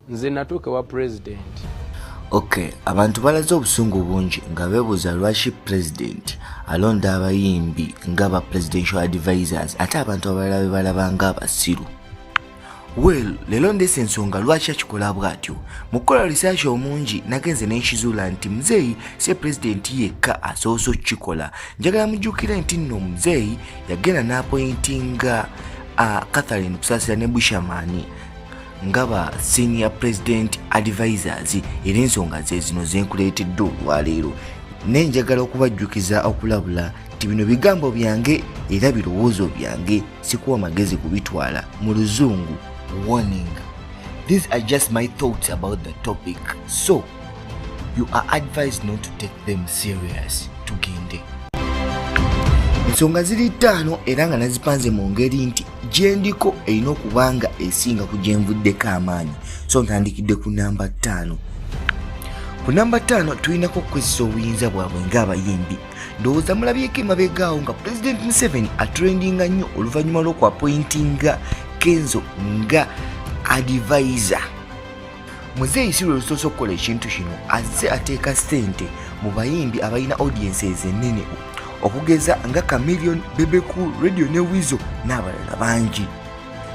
nze natuuka ewa pulezidenti ok abantu balaze obusungu bungi nga bebuuza lwaki pulezidenti alonda abayimbi nga ba presidential advisors ate abantu abalala be balaba nga abasiru well leero ndeesa ensonga lwaki akikola bw'atyo mu kukola risaasha omungi nagenze n'enkizuula nti muzeeyi si pulezidenti yekka asoose okukikola njagala mujjukire nti nno muzeeyi yagenda n'apointinga uh, catherine kusaasira ne bushamani nga ba senior president advisors era ensonga ze zino zenkuleetedde olwaleero naye njagala okubajjukiza okulabula nti bino bigambo byange era birowoozo byange sikuwa magezi kubitwala mu luzungu warning these are just my thoughts about the topic so you are advised not to take them serious tugende ensonga ziri ttaano era nga nazipanze mu ngeri nti gyendiko erina okuba nga esinga ku gyenvuddeko amaanyi so ntandikidde ku namba ttaano ku namba ttaano tulinako okukozesa obuyinza bwabwe ng'abayimbi ndowooza mulabyeko emabegaawo nga pulezidenti museveni atrendinga nnyo oluvannyuma lw'okwapointinga kenzo nga adivaiza muzeeyi si lwe lusoose okukola ekintu kino azze ateeka ssente mu bayimbi abalina audiensi ezenene okugeza nga camilion bebeku radio ne wizo n'abalala bangi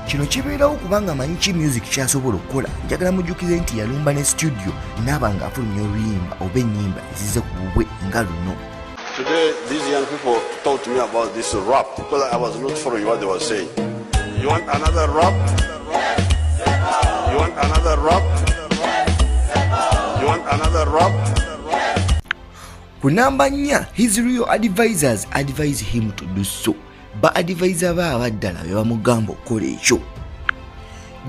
kino kibeerawo kubanga amanyi ki music kyasobola okukola njagala mujjukize nti yalumba ne situdiyo naaba ng'afulumya oluyimba oba ennyimba ezize ku bubwe nga luno Today, these young people talked to me about this rap because I was not following what they were saying. You want another rap? You want another rap? You want another rap? Ku namba nnya, his real advisors advise him to do so. Ba advisor ba abaddala be bamugamba okukola ekyo.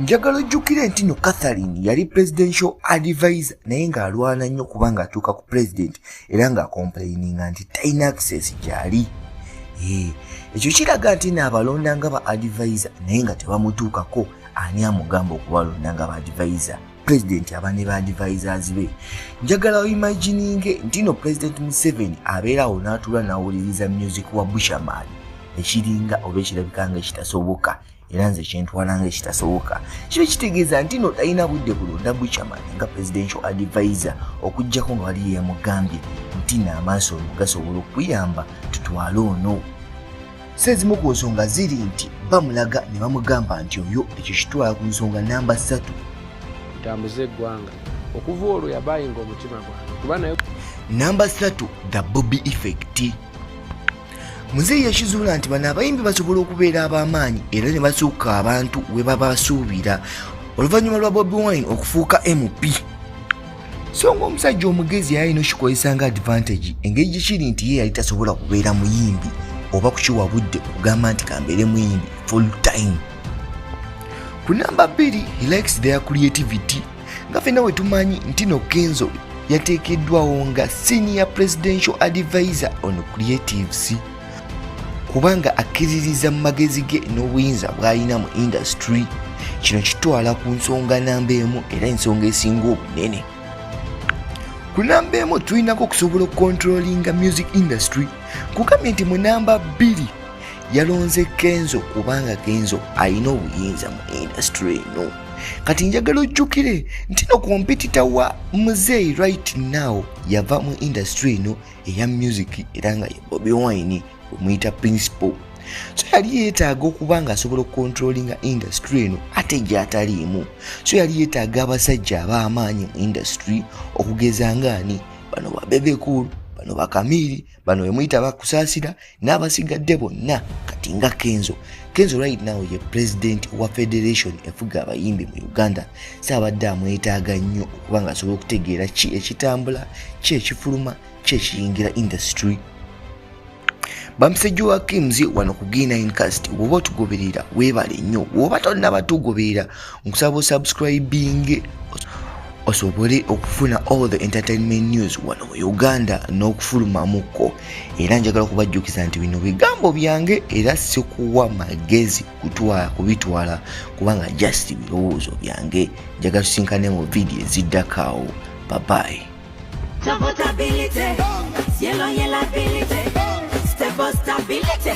Njagala ojjukire nti no Catherine yali presidential advisor naye ng'alwana nnyo kubanga atuuka ku president era nga complaininga nti talina access gyali ekyo kiraga nti naabalonda nga ba advisa naye nga tebamutuukako ani amugamba okubalonda nga ba advisa pulezidenti aba ne ba advisers be njagala oimagininge nti no pulezidenti museveni abeerawo n'atuula n'awuliriza music wa bushaman ekiringa oba ekirabika nga ekitasoboka era nze kyentwala nga ekitasoboka kiba kitegeeza nti no talina budde kulonda buchaman nga presidential advisor okugjako nga wali yeyamugambye nti naamaaso ono gasobola okuyamba tutwale ono si ezimu ku nsonga ziri nti bamulaga ne bamugamba nti oyo ekyo kitwala ku nsonga namba ssatu tambuza eggwanga okuva olwo yabayinga omutima gwange kuba naye namba ssatu the bobby effect muzeeyi yakizuula nti bano abayimbi basobola okubeera ab'amaanyi era ne basuuka abantu we babasuubira oluvannyuma lwa bobi wine okufuuka mp so ngaomusajja omugezi yayina okikozesa nga advantage engeri gyekiri nti ye yali tasobola kubeera muyimbi oba kukiwa budde okugamba nti kambeere muyimbi full time ku namba bbiri he likes their creativity nga fena wetumanyi ntino kenzo yateekeddwawo nga senior presidential advisor on creatives kubanga akkiririza mu magezi ge n'obuyinza bw'alina mu indasitule kino kitwala ku nsonga namba emu era ensonga esinga obunene ku namba emu tulinako okusobola okukontrolinga music industry kugambye nti mu namba bbiri yalonze kenzo kubanga kenzo alina obuyinza mu industry eno kati njagala ojjukire nti no kompitita wa muzeeyi right now yava mu industry eno eya music era nga ye bobi wine omuyita principal so yali yeetaaga okuba nga asobola okukontrolinga industry eno ate gyataliimu so yali yeetaaga abasajja abaamaanyi mu industry okugeza ngaani bano babebekulu bano bakamiiri bano wemuyita bakusaasira n'abasigadde bonna kati nga kenzo kenzo right now ye president wa federation efuga abayimbi mu uganda saabadde amwetaaga nnyo okuba nga asobola okutegeera ki ekitambula ki ekifuluma ki ekiyingira industry bamusajja wa kims wano ku g9 cast woba otugoberera webale nnyo woba tonnabatugoberera nkusaba osubscribinge osobole okufuna all the entertainment news wano mu uganda n'okufulumamukko era njagala okubajjukiza nti bino bigambo byange era sikuwa magezi kutwala kubitwala kubanga just birowoozo byange njagala tusinkane mu vidiyo eziddakaawo babayi Stability, cielo y el ability, stable stability.